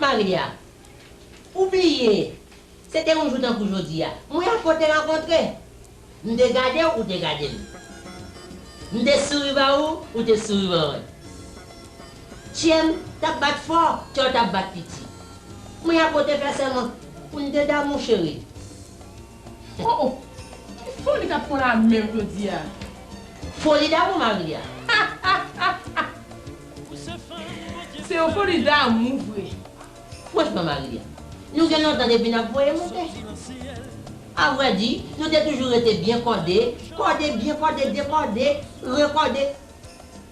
Maria, Ou bliye, se te yon jou tankou jodi a. Mwen ak ou te rankontre. M te gade w, ou te gade m. M te souri ba ou, ou te souri ban mwen. Kye m t ap bat fò, kè w t ap bat piti. Mwen ak ou te fè sèman pou n te damou, cheri. Oh oh ki foli kap pwan la menm jodia. Foli damou mari a. Se yon foli damou vre. Franchman mari a. Nou gen lontan depi nap voye moute. A vrè di, nou te toujou rete byen kòde, kòde, byen kòde, dekòde, rekòde,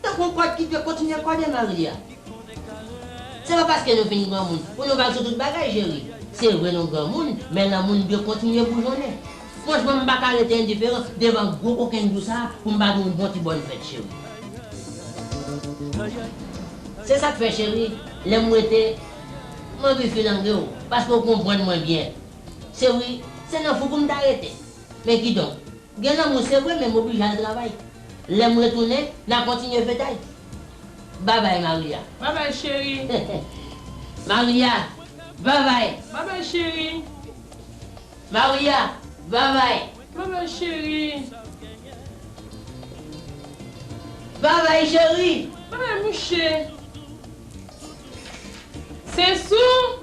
Tankou yon kòd ki te kontinye kòde mari a. Se pa paske nou fin granmoun pou nou vag sou tout bagay cheri. Se vre nou granmoun, men lanmou n dwe kontinye boujonnen. Franchman m pa ka rete endiferan devan gwo kokenn jou sa a pou m pa di w yon bon ti bòn fèt cheri. Se sa k fè cheri, lè m wete, m anvi filange w paske w konprann mwen byen. Se wi, se nan fou pou m ta rete. Men kidonk. Gen lanmou se vre men m oblije al travay Lè m retounen n a kontinye fetay Babay Maria Babay cheri Maria Babay Babay cheri Maria Babay Babay cheri Babay cheri Babay mouche Se sou!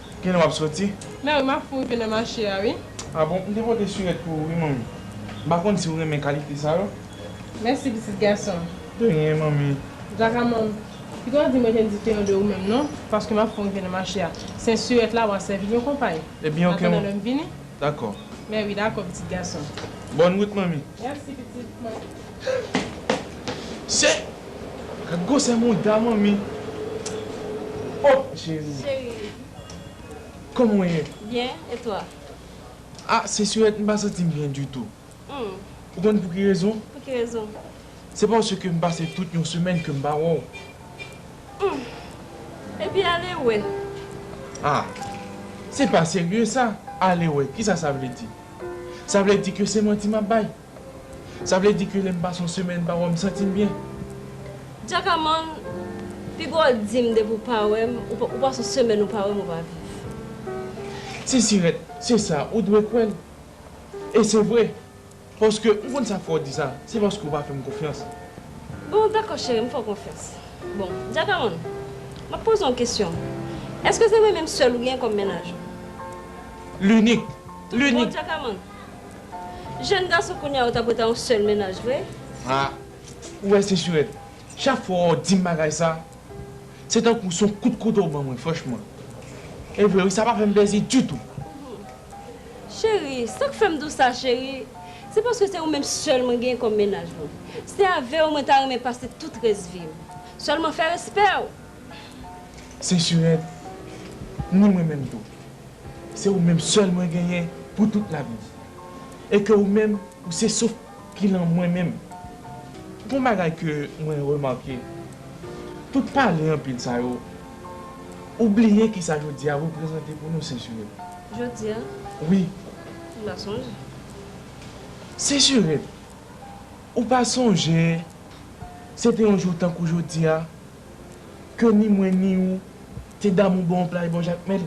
Kilè wap soti? Mèwi map fou rive nan mache a wi. Ah bon m te pote surèt pou ou wi manmi. M pa konn si ou renmen kalite sa yo. Mèsi pitit gason. De rien manmi. Djakamò m pito w di mwen te diferan de ou menm non paske map fou rive nan mache a. Sen surèt la wa sèvi yon konpay. Ebyen ok antandan lèm vini. Dakò. Mèwi dakò pitit gason. Bòn wout manmi. Mèsi pitit mwen. Se Gad gwosè mouda manmi Oh cheri Cheri Kòman w ye? Byen e twa? Ah se Syèt m pa santi m byen ditou Ou konn pou ki rezon? Pou ki rezon? Se paske m pase tout yon semèn ke m pa wè w Humm Epi ale wè? Ah se pa serye sa, ale wè kisa sa vle di? Sa vle di ke se manti m ap bay? Sa vle di ke lè m pase yon semèn pa wè w m santi m byen? Jackaman, Pi gwo w di m depi w pa wè m, ou pase yon semèn ou pa wè m ou pa viv. Sisirèt, Se sa, ou dwe kwè l. E se vre. Paske, m konn sa k fè w di sa, se paske w pa fè m konfyans. Bon, dakò cheri, m fè w konfyans. Bon, Jackaman, m ap poze w yon kesyon. Èske se mwen menm sèl ou gen kòm mennaj ou? Linik, linik. Tout bon, Jackaman? Jèn gason kounya yo ta pwè ta yon sèl mennaj vre. Ah ou wè Sensurèt chak fwa ou dim bagay sa se tankou son kout kouto ou ban mwen franchman e vre wi sa pa fèm plèzi ditou. Cheri sak fèm di w sa cheri se paske se ou menm sèl mwen gen kòm mennaj mwen se avèw mwen ta renmen pase tout rès vim sèlman fè respèw. Sensurèt, ni mwen menm tou. Se ou menm sèl mwen genyen pou tout lavi. E ke ou menm ou se souf ki lan mwen menm. Gon bagay ke mwen remake, tout pale anpil sa yo, ou bliye kisa jodi a reprezante pou nou Sensurèt. Jodi a? Wi. M pa sonje. Sensurèt, ou pa sonje se te yon jou tankou jodi a? Ke ni mwen ni ou te damou bon plaj bon jakmèl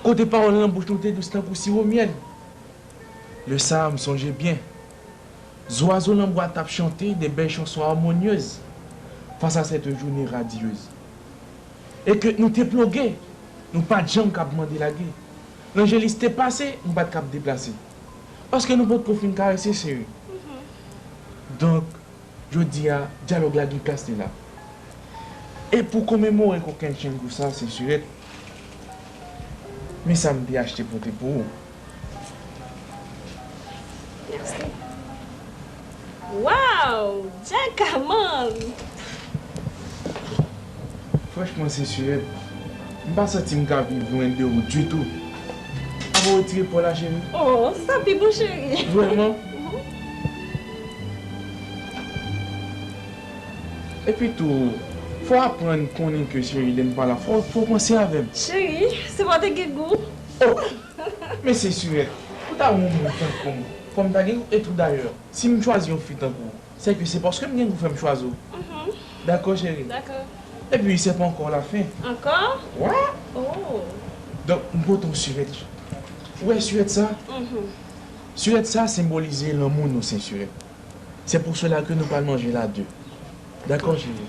Kote pawòl nan bouch nou te dous tankou siwo myèl Lè sa a m sonje byen Zwazo nan bwa t ap chante de bèl chanson amonyez Fas a sèt joune radiyez E ke nou te ploge Nou pa t janm k ap mande lage Lanjelis te pase Nou pa t k ap deplase Paske nou potko fin karese cheri Donk Jodi a, dyalòg la gen plas li la. E pou komemore kokenn Chengu sa se surette Men sa m te achte pote pou ou. Merci. Waww! Djaka man! Franchman Sesuret, m pa santi m ka viv lwen de ou ditou. A pa wetire paw la cheri? Oh, se sa pi bon cheri. Vrèman? Epi tou, fò aprann konnen ke cheri lè m pa la fò w panse avè m. Cheri, se pa w te gen gou. Oh! Men Sesuret, pou ta yon moun tankou m, fò m ta gen gou? E tou dayè, si m chwazi yon fi tankou w, Sèke se paske m gen pou fè m chwazi w. Dakò cheri. Epi se pa ankò w la fen. Ankò? Wi. Donk m pote yon sirèt la. Ou wè sirèt sa? Sirèt sa senbolize lanmou nou sensire. Se pou sela ke nou pral manje la de. Dakò cheri.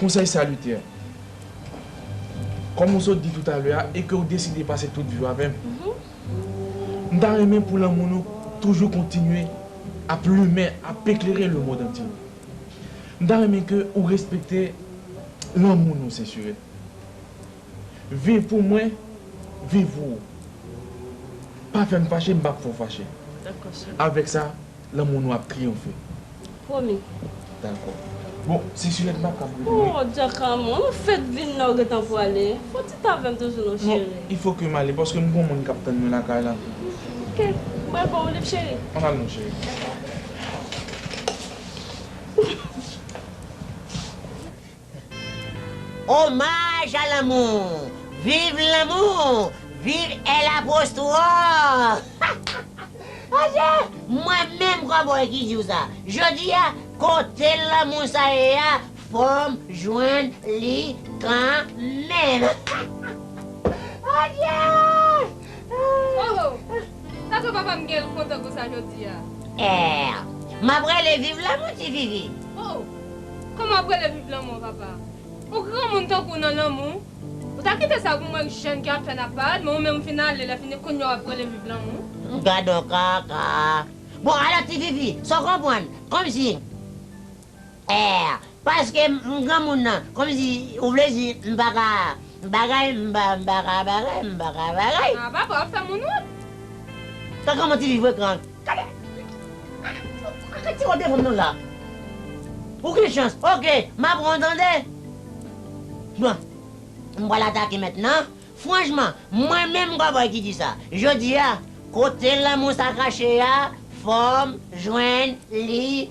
Konsèy salitè, Kòm ou sot di toutalè a e ke ou deside pase tout vi ou avè m, m ta renmen pou lanmou nou toujou kontinye ap limen, ap eklere lemond antye. M ta renmen ke ou respekte lanmou nou sensire. Viv pou mwen, viv pou ou. Pa fè m fache, m p ap fè w fache. Avèk sa, Lanmou nou ap triyonfe. Pwomi. Dakò. Bon, se Juliette m pa kab rete non. Oh Djakan mwen, mwen fèk vin la ou gentan pwale. Fè yon ti tan avè m toujou non cheri. Non, il faut ke m ale paske m gon moun k ap tann mwen lakay la. Ok, m pral ba w yon liv cheri. An n al non cheri. Dakò. Omaj a lanmou! Viv lanmou! Viv El Apostro! Aje! Mwen menm kòbòy ki di w sa. Jodi a, kote lanmou sa ye a, fò m jwenn li kanmenm. Aje! Ohoh! Sa fè papa m gen l kontan konsa jodi a? Eer! M ap rele viv lanmou ti vivi. Oh! Kòman w ap rele viv lanmou an papa? Ou granmoun tankou w nan lanmou? Ou ta kite sa pou mwen k jèn ki ap fè nan parad men ou menm ou fin ale lè fini kounye a w ap rele viv lanmou? Gadon kaka! Bon alò ti vivi, sa w konprann? Kòmsi? Èè paske m granmoun nan komsi ou vle di m pa ka bagay m pa m pa ka bagay m pa ka bagay. Ah papa wap fè moun wont. Tan kòman ti fi frekan. Gade Gade ti wòd defanm nou la Pou ki chans ok ma pranw tande Bon m pral atake mèt nan Franchman mwen menm kòbòy ki di sa Jodi a kote lanmou sa kache a fòm jwenn li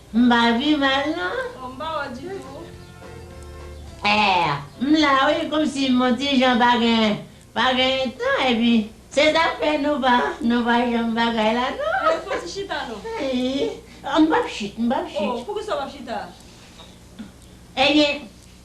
M pa vi mal non. Oh m pa wè ditou. Air, M la wi komsi mon ti jan pa gen pa gen tan epi se zafè nou pa nou pa janm bagay la non. Air, Fon ti chita non. Ayy oh m pap chit m pap chit. Oh poukisa w pap chita. Ebyen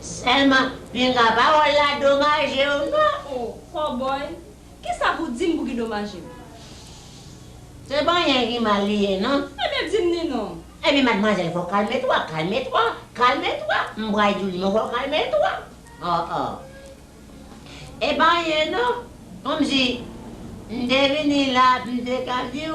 Selman pinga pawol la domajew non. Oh cowboy kisa pou dim pou ki domajim. Se panyen ki mal li ye non. Ebyen dim ni non. Ebyen madmwazèl fò kalme twa kalme twa kalme twa m bway diw li men w fò kalme twa oh oh e pa anyen non komsi m te vini la m te ka diw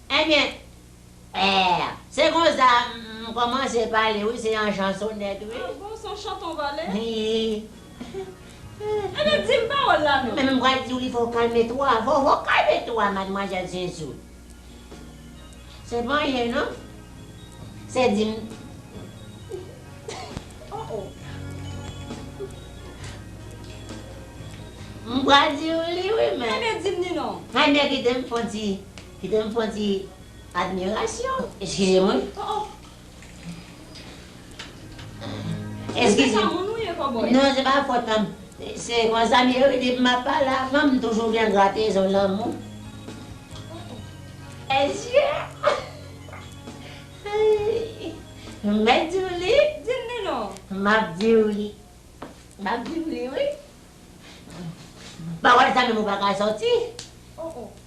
Ebyen eh se konsa m komanse pale wi se yon chan sonèt wi. Ah bon son chan ton vale. Ebyen dim pawol la non. Menm m pral diw li fo kalme twa fo fo kalme twa madmwazèl zezou. Se pa anyen non se dim. Oh oh. M pral diw li wi men. Ebyen dim ni non. Ebyen kitem fon ti Kite m fon ti admirasyon. Eskize mwen. Oh oh. Eskize. Se pa moun ou ye kòbòy. Non se pa fòt pa m. Se konsa m ye wi depi m ap pale ak fanm m toujou gen gratezon lanmou. Oh oh. Eske. M mèt di w li. Di m li non. M ap di w li. M ap di w li wi. M pa wè l sa menm ou pa ka sòti. Oh oh.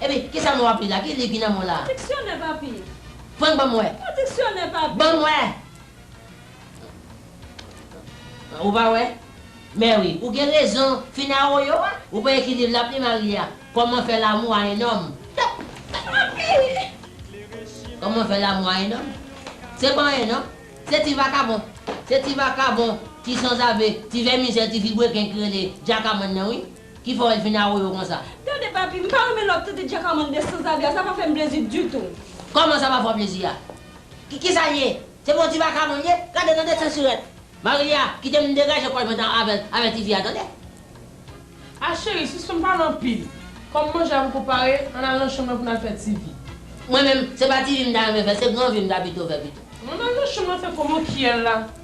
Epi, kisa mo a pi la? Ki liv ki nan mo la? Diksyonè, papi! Frank, ban m wè! Yon diksyonè, papi! Ban m wè! Ou pa wè? Mèwi, ou gen rezon, fin awoyo a! Ou pa ekri liv l ap li Maria, Comment faire l'amour à un homme. Tap! Tap! Papi! Comment faire l'amour à un homme? Se pa anyen non. Se ti vakabon, se ti vakabon, ti sanzave, ti vèmizè, ti vilebrekin ki rele Djakaman nan wi. Ki fè w vin awoyo konsa? Tande papi, m pa renmen lè w ap trete Djakamàn de sanzave a, sa pa fè m plezi ditou. Kòman sa pa fè w plezi a? Ki sa l ye? Se pou yon ti vagabon l ye? Gade nan de sensurèt! Marilia, kite m degaje kòl mwen tan avè l, avè ti fi a tande! A cheri, sispann pale anpil. Kòm manje a poko pare, ann al nan chanm lan pou n al fè ti vi. Mwen menm, se pa ti vi m ta renmen fè, se gran vi m ta pito fè pito. Ann al nan chanm lan fè kòman w kiyèl la.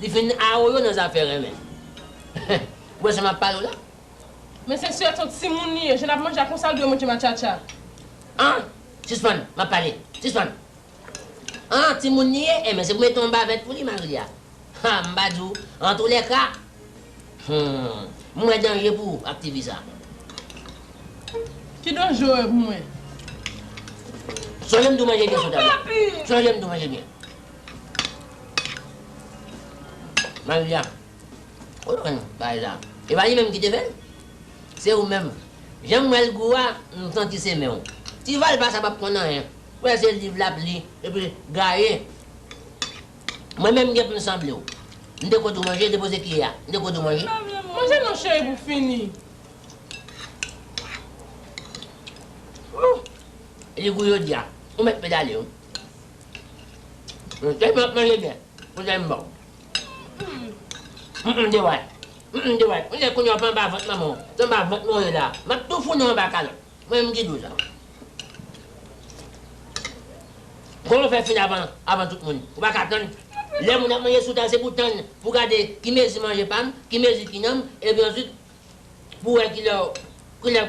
Li fin awoyo nan zafè renmen. Ou wè sa map pale w la. Men se sè ton timoun li ye. Jan lap manje a konsa l dwe manje matchatcha. An! Sispann! Map pale! Sispann! An! Timoun li ye? Enben se pou mete yon bavèt pou li mari a. Ha! M pa di w. Antoulèka. Humm. M wè danje pou ou ak tifi sa. Ki danje w wè pou mwen? Sonje m di w manje byen sou tab la. Sonje m di w manje byen. Maria ou te konn bagay sa e pa li menm ki te fèl se ou menm janm wèl gou a m santi se menw ti valpa sa pap konn anyen m wè se liv lap li epi gaye mwen menm gen poum sanblew m te koud ou manje depoze kiyè a m te koud ou manje manje non cheri pou fini ooh li gou jodia ou mèt pedale wi. Ou te vle manje byen pou tèt m ba w. Humm de wayt Humm de wayt ou nèg kounye a w pa anba vant manman w se anba vant mwen w ye la a map tou founen w anba kalòt mwen menm ki di w sa Kòman w fè fin avan avan tout moun ou paka tann lè moun ap manje sou tab se pou w tann pou w gade ki mezi manje pa m ki mezi ki nan m epi answit pou w wè kilè w kilè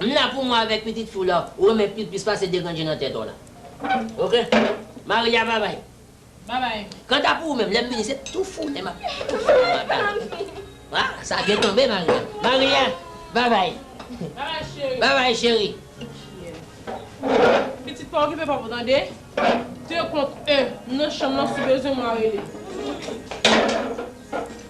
M la pou mwen avèk pitit fi w la ou renmen pi plis pase deranje nan tèt w la. Ok. Maria babay. Babay. Kanta pou ou menm, lè m vini se tou foule m ap tou foule m ap ale. A, sa byen tonbe Maria. Maria, babay. Babay cheri. Babay cheri. Cheri. Pitit pa okipe papa w tande. De kont en, m nan chanm lan si bezwen mwen rele.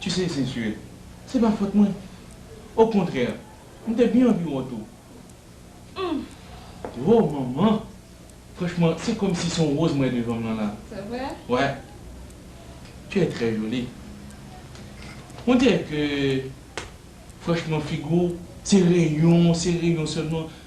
Tu sais c'est sûr, se pa fòt mwen. Au contraire, m te byen anvi wont ou. Humm! Ho manman! Franchman, se kòm si se yon rose m wè devan m lan la. C'est vrai? Ouais. Tu es très jolie. On dirait que franchman figi w se reyon, se reyon sèlman.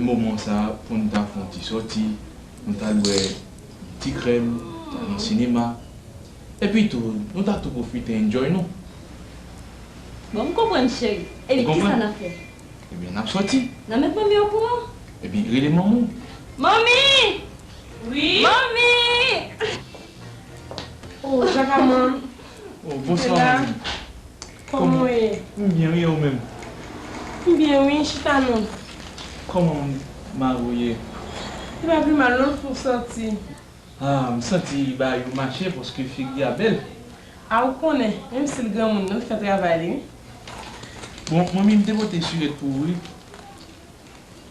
moman sa pou n ta fè yon ti sòti, pou n ta bwè yon ti krèm, ta al nan sinema, epi tou nou ta tou pwofite enjoy nou. Bon, m konprann cheri. Epi kisa n ap fè? Ebyen n ap sòti. N ap met manmi okouran? Ebyen rele manman w. Manmi! Wi? Manmi! O, Jakaman! O, bonswa manmi! Koman ou ye? M byen wi e ou menm? M byen wi, chita non. Koman mari ou ye? Li pa pi mal non l fou santi. Ah m santi bagay yo mache paske figi a bèl. Ah ou konnen, menm si l granmoun non l fè travay li wi. Bon manmi m te pote sirèt pou ou wi.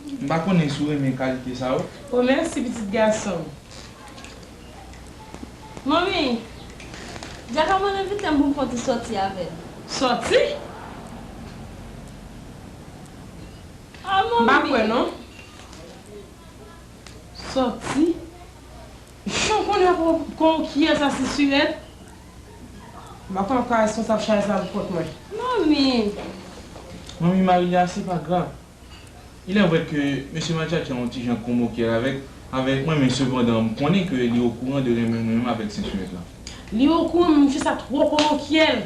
M pa konnen si w renmen kalite sa yo. O mèsi pitit gason m. Manmi, Djaka mwen envite m pou m fon ti sòti avè l. Sòti? Ah manmi! M pa kwè non. Sòti? Humm kounye a pouw k konn kiyes a se surette? M pa kwè wap ka responsab chay sa pou kont mwen. Manmi! Manmi Marilia se pa grav. Il est vrai ke mesye Matchatchan on ti jan konmoker avèk avèk mwen men sepandan m konnen ke li okouran de renmen mwen menm avèk sè Surette la. Li okouran men mesye sa twò konmokyèl.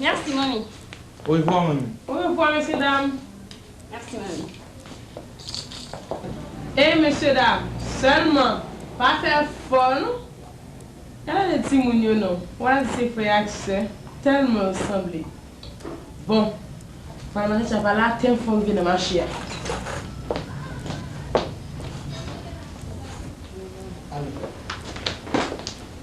Merci manmi. Orevwa manmi. Orevwa mesye dam. Merci manmi. Ey mesye dam selman pa fè fò nou Gade de timoun yo non wa di se frè ak sè telman yo sanble bon Pral manje sa pa la tem fon vye nan mache a.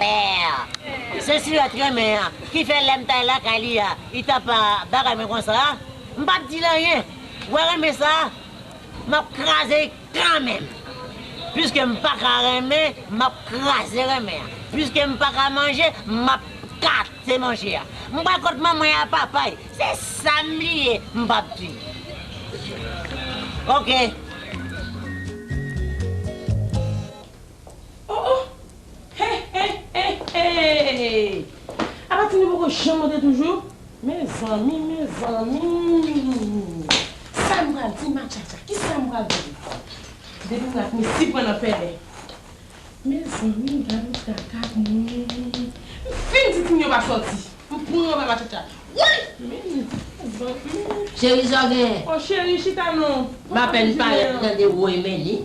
Père. Se sila t renmen an ki fè lèm t al lakay li a li tap bagay mwen konsa m pap dil anyen wè renmen sa map kraze li kanmenm piske m paka renmen map kraze renmen an piske m paka manje map kate manje a m pral kot manmay a papay se sam li ye m pap di ok. Oh oh He he he hee Apa tine poko janm monte toujou Mezanmi mezanmi Sa m pral di matchatcha Kisa m pral di Depi m la Missy pran nan pèlen Mezanmi gade kaka moun M fin di tine yo pa soti M pran anba matchatcha Woy Mezanmi Cheri sa w genyen Oh cheri chita non M apèn parèt m tande woy Meni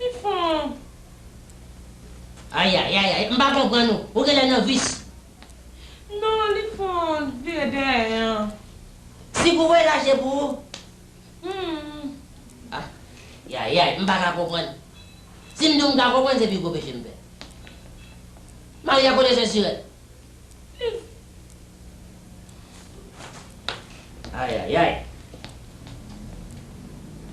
Li fon. Ayayayay m pa konprann ou, ou genlè nan vis. Non li fon vire dèyè an. Si pou ou e laj e pou ou. Humm. Ayayay m paka konprann. Si m di w m ka konprann se pi gwo peche m fè. Mari a kote sensirèt. Li. Ayayay.